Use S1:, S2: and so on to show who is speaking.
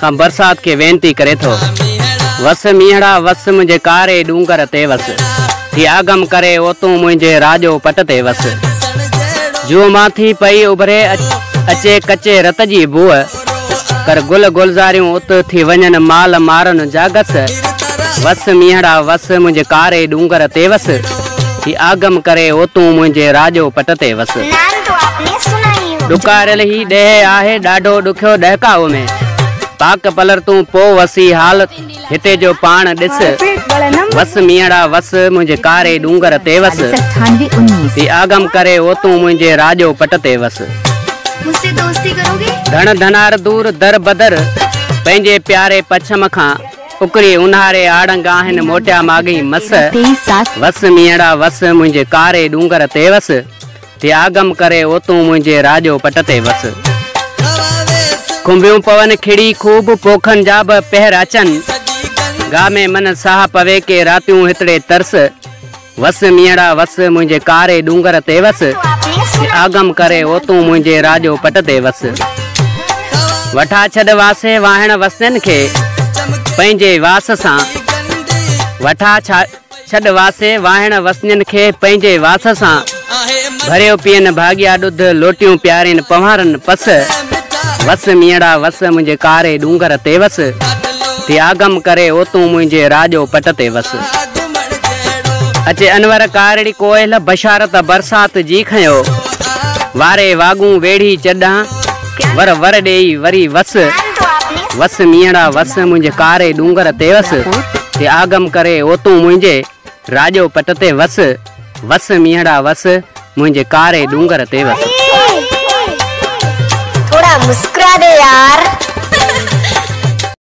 S1: کان برسات کي وينتي ڪري ٿو. وس مينهڙا وس منهنجي ڪاري ڏونگر تي وس. ٿي آگم ڪري اوتون منهنجي راڄو پٽ تي وس. جو مان ٿي پئي اڀري اچي ڪچي رت جي بوء. ڪر گل گلزاريون ات ٿي وڃن مال مارن جا گس. وس مينهڙا وس منهنجي ڪاري ڏونگر تي وس. ٿي آگم ڪري اوتون منهنجي راڄو پٽ تي وس. ڏڪاريل هي ڏيهه آهي ڏاڍو ڏکيو ڏهڪائو ۾، پاڪ پلر تون پو وسي حال هتي جو پاڻ ڏس، وس مينهڙا وس منهنجي ڪاري ڏونگر تي وس، ٿي آگم ڪري اوتون منهنجي راڄو پٽ تي وس.
S2: ڌڻ ڌنار دور
S1: در بدر پنهنجي پياري پڇم کان اڪري اونهاري آڙنگ آهن موٽيا ماڳهين مس، وس مينهڙا وس منهنجي ڪاري ڏونگر تي وس. تياڳم ڪري او تون منهنجي راڄو پٽ تي وس. کنڀيون پون کڙي خوب پوکن جا به پهر اچن. گاهه ۾ من ساهه پوي ڪي راتيون هتڙي ترس. وس مينهڙا وس منهنجي ڪاري ڏونگر تي وس. تياڳم ڪري او تون منهنجي راڄو پٽ تي وس. وٺا ڇڏ واسي واهڻ وسين کي پنهنجي واس سان. وٺا. ڇڏ واسي واهڻ وسڃن کي پنهنجي واس سان، ڀريو پيئن ڀاڳيا ڏڌ لوٽيون پيارين پنوهارن پس، وس مينهڙا وس منهنجي ڪاري ڏونگر تي وس، ٿي آگم ڪري اوتون منهنجي راڄو پٽ تي وس. اچي انور ڪارڙي ڪوئل بشارت برسات جي کنيو، واري واڳون ويڙهي چڏان، ور ور ڏيئي وري وس وس مينهڙا وس منهنجي ڪاري ڏونگر تي وس ٿي آگم ڪري اوتون منهنجي راڄو پٽ تي وس وس مينهڙا وس منهنجي ڪاري ڏونگر تي وس. ٿورا
S2: مسڪرا ڏي يار.